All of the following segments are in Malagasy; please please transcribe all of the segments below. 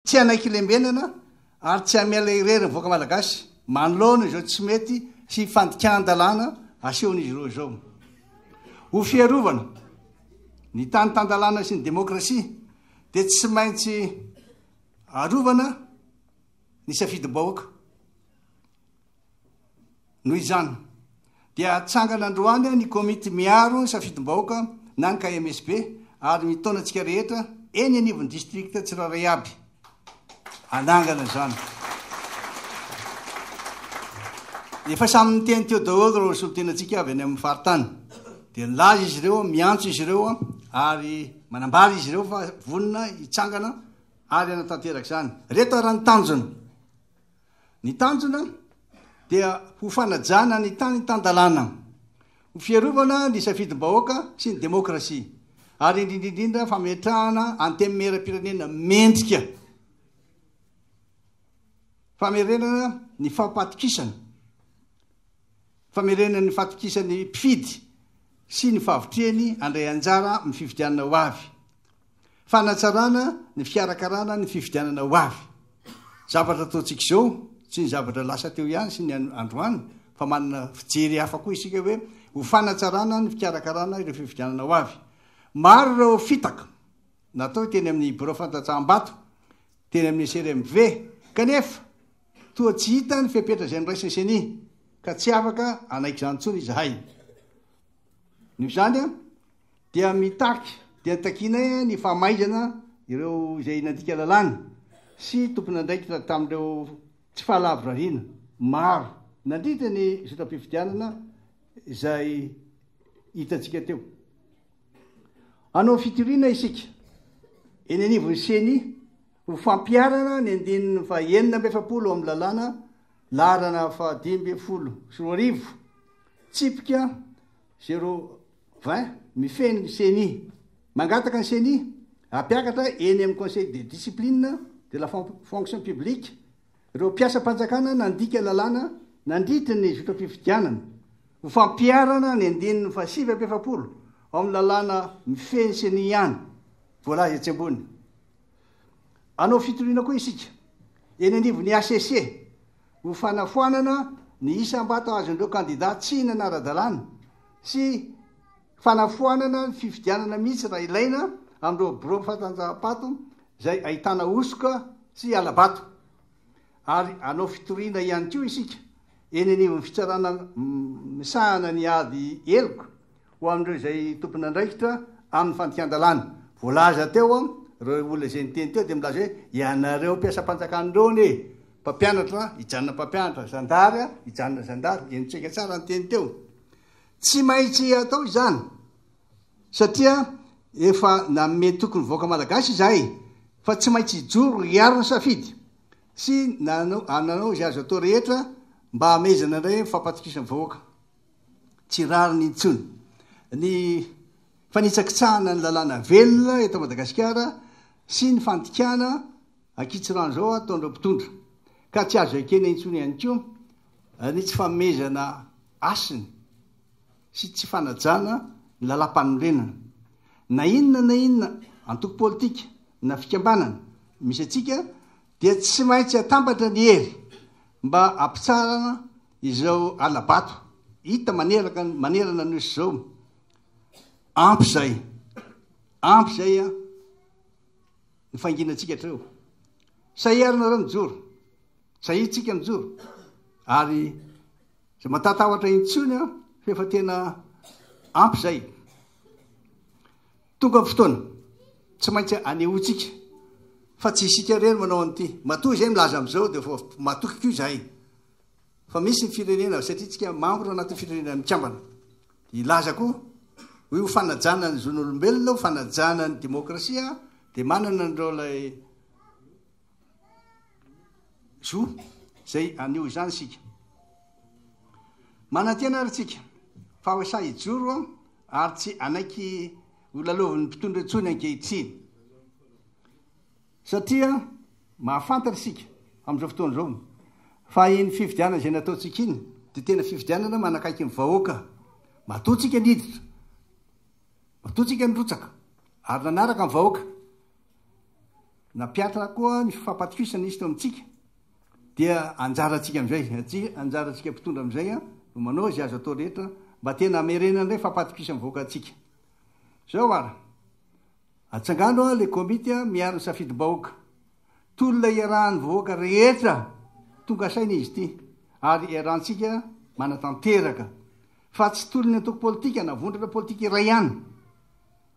Tsy hanaiky hilembenana ary tsy hamela irery ny vahoaka malagasy manoloana izao tsy mety sy fandikan-dalàna asehon'izy ireo izao. Ho fiarovana ny tany tan-dalàna sy ny demokrasia dia tsy maintsy arovana ny safidim-bahoaka. Noho izany, dia hatsangana androany ny Komity miaro safidim-bahoaka na ny KMSB ary mitaona antsika rehetra eny anivon'ny distrikta tsirairay aby hanangana izany. Efa samy niteny teo daholo ireo solontenantsika avy any amin'ny faritany. Dia nilaza izy ireo, miantso izy ireo ary manambara izy ireo fa vonona hitsangana ary hanatanteraka izany. Reto ary ny tanjona. Ny tanjona dia ho fanajana ny tany tan-dalàna, ho fiarovana ny safidim-bahoaka sy ny demokrasia ary indrindra indrindra fametrahana antenimieram-pirenena mendrika, famerenana ny fampatokisana, famerenana ny fatokisan'ny mpifidy sy ny fahavitrihany handray anjara amin'ny fifidianana ho avy. Fanatsarana ny fikarakarana ny fifidianana ho avy. Zavatra ataontsika izao, tsy ny zavatra lasa teo ihany sy ny androany, fa manana fijery hafa koa isika hoe ho fanatsarana ny fikarakarana ireo fifidianana ho avy. Maro ireo fitaka natao teny amin'ny birao fandatsaham-bato, teny amin'ny CRMV, kanefa toa tsy hita ny fepetra izay noraisin'ny ceni, ka tsy afaka hanaiky izany intsony izahay. Noho izany, dia mitaky dia takianay ny fahamaizana ireo izay nandika lalàna sy tompon'andraikitra tamin'ireo tsy fahalavorariana maro nandritra ny zotam-pifidianana izay hitantsika teo. Hanao fitoriana isika eny anivon'ny CENI ho fampiharana ny andininy fahenina amby efapolo amin'ny lalàna laharana fahadimy ambin'ny folo sy roa arivo tsipika zero Vin, mifehy ny ceni. Mangataka ny ceni hampiakatra eny amin'ny Conseil de discipline de la fonction publique ireo mpiasam-panjakana nandika lalàna nandritry ny zotram-pifidianana ho fampiharana ny andininy fahasivy amby efapolo ao amin'ny lalàna mifehy ny ceni ihany voalaza etsy ambony. Hanao fitoriana koa isika eny anivon'ny hcc ho fanafoanana ny isam-bato azon'ireo kandidà tsy nanara-dalàna sy fanafoanana ny fifidianana mihitsy raha ilaina amin'ireo birao fatanjaham-pato izay ahitana hosoka sy hala-bato ary hanao fitoriana ihany koa isika eny anivon'ny fitsarana misahana ny ady heloka ho amin'ireo izay tompon'andraikitra amin'ny fandikan-dalàna. Voalaza teo ireo olona izay niteny teo dia milaza hoe ianareo mpiasam-panjakana ireo anie mpampianatra hijanona mpampianatra, zandary hijanona zandary, eny tsaika tsara ny teny teo. Tsy maintsy atao izany satria efa nanome toky ny vahoaka malagasy izahay fa tsy maintsy hijoro hiaro ny safidy sy nanao izay azo atao rehetra mba hamehezana indray ny fampatokisana vahoaka. Tsy rariny intsony ny fanitsakitsahana ny lalàna velona eto Madagasikara sy ny fandikana ankitsirano izao ataon'ireo mpitondra ka tsy azo ekena intsony ihany koa Ny tsy fanomezana hasiny sy tsy fanajana ny lalàmpanorenana. Na inona na inona antoko politika na fikambanana misy antsika dia tsy maintsy atambatra ny hery mba hampitsarana izao hala-bato hita maneraka ny manerana ny Nosy izao. Ampy izay. Ampy izay ny fanginantsika hatreo. Sa iarona ireo mijoro? Tsahintsika ny jo ary tsy matatahotra intsony an, fa efa tena ampy izay. Tonga ny fotoana, tsy maintsy anehoantsika fa tsy isika irery manao an'ity. Matoa izay milaza amin'izao dia vao matoky koa izahay fa misy ny firenena satria tsika membre anatin'ny firenena mikambana. Dia hilaza koa hoe ho fanajana ny zon'olombelona, ho fanajana ny demokrasia dia manana an'ireo ilay Zo izay haneho izany isika. Manantena ary isika fa ho sahy hijoro ary tsy hanaiky ho lalaovin'ny mpitondra intsony ankehitriny. Satria mahafantatra isika amin'izao fotoana izao fa iny fifidianana izay nataontsika iny dia tena fifidianana manakaiky ny vahoaka. Matoa tsika niditra, matoa tsika nirotsaka ary nanaraka ny vahoaka Nampiatra koa ny fampatokisana izy teo amintsika, dia anjarantsika amin'izay, anjarantsika mpitondra amin'izay no manao izay azo atao rehetra mba tena hamerenana ilay fampatokisana mivoaka antsika. Izao ary, atsangano ilay komity miaro ny safidim-bahoaka. Tolona iarahan'ny vahoaka rehetra tonga saina izy ity, ary iarahantsika manatanteraka, fa tsy tolon'ny antoko politika na vondrona politika iray ihany.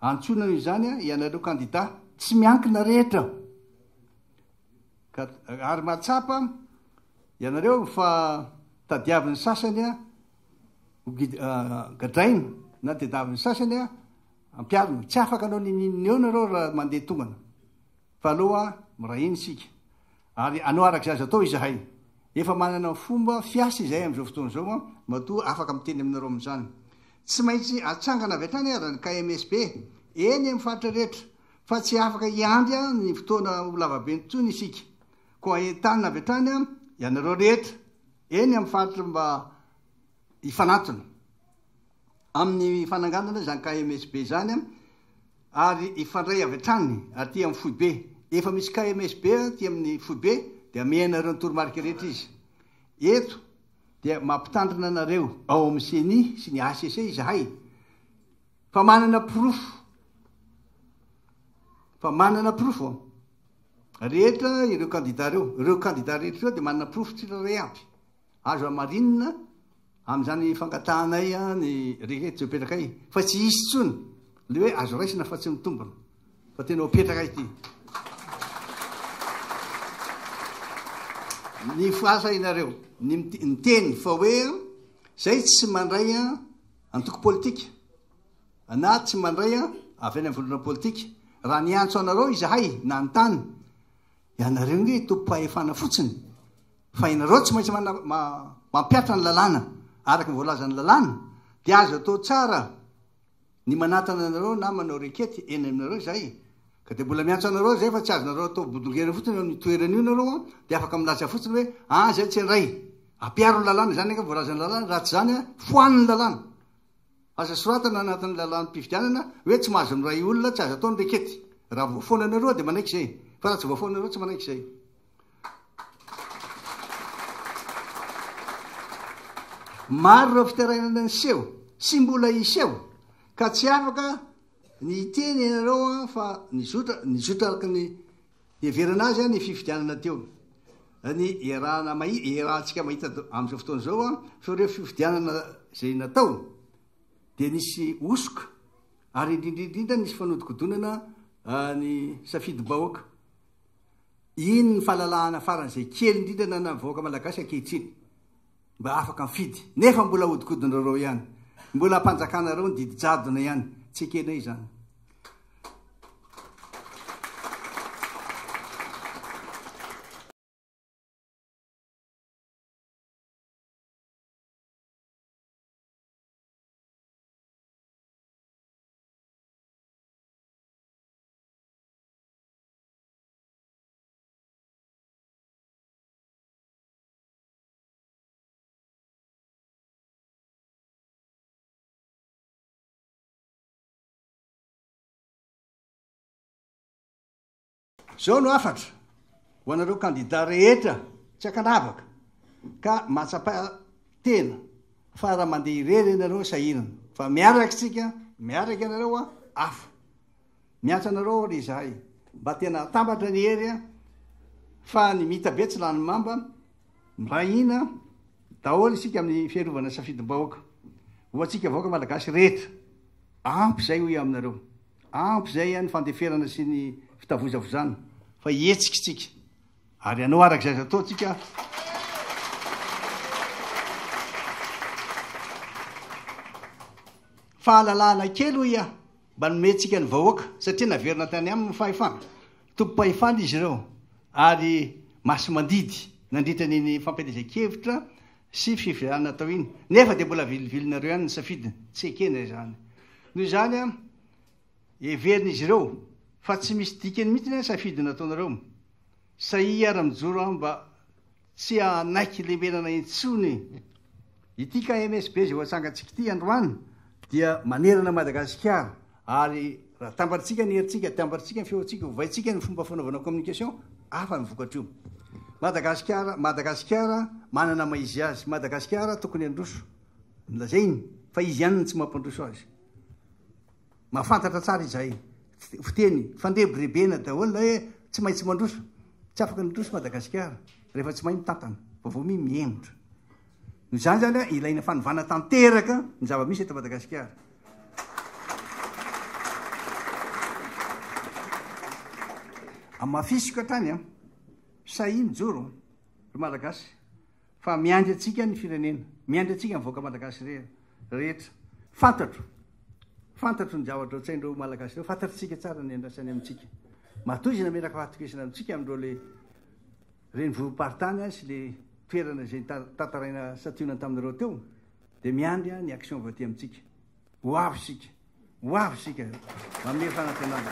Antsoina izany ianareo kandida tsy miankina rehetra ka ary mahatsapa ianareo fa tadiavin'ny sasany ho gadraina na tadiavin'ny sasany ampiharina. Tsy afaka hanao n'inon'inona ianareo raha mandeha tongana fa aloha miray hina isika. Ary hanao araka izay azo atao izahay. Efa manana fomba fiasa izahay amin'izao fotoana izao an, matoa afaka miteny aminareo amin'izany. Tsy maintsy atsangana avy hatrany ary ny KMSB, eny amin'ny faritra rehetra, fa tsy afaka hiandry an ny fotoana ho lavabe intsony isika. Koa entanina avy hatrany an ianareo rehetra eny amin'ny faritra mba hifanantona amin'ny fananganana izany KMSB izany an, ary hifandray avy hatrany aty amin'ny foibe. Efa misy KMSB aty amin'ny foibe dia amiha anareo ny toromarika rehetra izy. Eto dia mampitandrina anareo ao amin'ny ceni sy ny hcc izahay fa manana porofo fa manana porofo rehetra ireo kandida ireo. Ireo kandida rehetra ireo dia manana porofo tsirairay avy. Azo hamarinina amin'izany fangatahanay ny rehetra izay mipetraka iny, fa tsy hisy intsony ilay hoe azo raisina fa tsy mitombina, fa tena ho petraka ity. Ny fahasahianareo, ny miteny fa hoe izay tsy mandray antoko politika, na tsy mandray avy any amin'ny vondrona politika, raha niantso anareo izahay nanontany, ianareo ange tompom-pahefana fotsiny, Fa ianareo tsy maintsy mampiatra ny lalàna araka ny voalazan'ny lalàna, dia azo atao tsara ny manatana anareo na manao rekety eny aminareo izay, ka dia mbola miantso anareo izay fa tsy azonareo atao bodongera fotsiny eo amin'io toerana io ianareo an, dia afaka milaza fotsiny hoe an izay tsy handray, ampiaro ny lalàna, izany angamba voalazan'ny lalàna, raha tsy izany an foano ny lalàna. Aza soratana anatin'ny lalàm-pifidianana hoe tsy mahazo miray olona, tsy azo atao ny rekety, raha voafoana anareo dia manaiky izay, fa raha tsy voafoana anareo tsy manaiky izay. Maro ireo fitarainana niseho sy mbola hiseho ka tsy afaka ny hiteny ianareo an fa nizotra nizotra araka ny heverana azy ny fifidianana teo ny iarahana mahi iarahantsika mahita amin'izao fotoana izao an fa ireo fifidianana izay natao dia nisy hosoka ary indrindra indrindra nisy fanodikodonana ny safidim-bahoaka Iny ny fahalalahana faran'izay kely indrindra ananan'ny vahoaka malagasy ankehitriny mba afaka mifidy. Nefa mbola ahodikodindrareo ihany. Mbola ampanjakanareo ny didy jadona ihany. Tsy ekenay izany. Izao no hafatra ho anareo kandida rehetra tsy ankanavaka ka mahatsapa-tena fa raha mandeha irery ianareo sahinana fa miaraka isika, miaraka ianareo an, afo. Miantsa anareo ary izahay mba tena atambatra ny hery a! Fa ny mitabe tsy lany mamba, miray hina daholo isika amin'ny fiarovana ny safidim-bahoaka ho antsika vahoaka malagasy rehetra. Ampy izay hoy aho aminareo. Ampy izay ny fandeferana sy ny fitavozavozana fa hihetsika isika ary hanao araka izay azo atao isika fahalalahana kely hoy aho. Mba nomentsika ny vahoaka satria naverina tany aminy ny fahefana. Tompom-pahefana izy ireo ary masi-mandidy nandritra ny ny fampielezan-kevitra sy fifidianana atao iny. Nefa dia mbola vilivilinareo ihany ny safidiny. Tsy ekena izany. Noho izany, heverin'izy ireo fa tsy misy dikany mihitsy ny safidy nataonareo. Sahia ary mijoro aho mba Tsy hanaiky lembenana intsony ity KMSB izay ho atsangantsika ity androany dia manerana Madagasikara ary raha tambarintsika ny herintsika, tambarintsika ny feontsika, ovaintsika ny fomba fanaovana communication, hafa ny vokatr'io. Madagasikara, Madagasikara manana maha izy azy, Madagasikara tokony handroso, lazainy fa izy ihany no tsy mampandroso azy. Mahafantatra tsara izay fiteny fandrebirebena daholo na hoe tsy maintsy mandroso. Tsy afaka midroso Madagasikara rehefa tsy mahay mitantana fa vao mi mihemotra. Noho izany zany ilaina fanovana tanteraka ny zava-misy eto Madagasikara. Amafisiko hatrany an. Sahia mijoro ry Malagasy. Fa miandry antsika ny firenena. Miandry antsika ny vahoaka malagasy rehetra. Fantatro. Fantatro ny zavatra otsain'ireo ho malagasy ireo. Fantatritsika tsara ny andrasany amintsika. Matoa izy nameraka fahatokisana amintsika amin'ireo le renivohi-paritany sy le toerana izay tantaraina santionany taminareo teo dia miandry ny action avy aty amintsika. Ho avy isika. Ho avy isika. Manome fanantenana.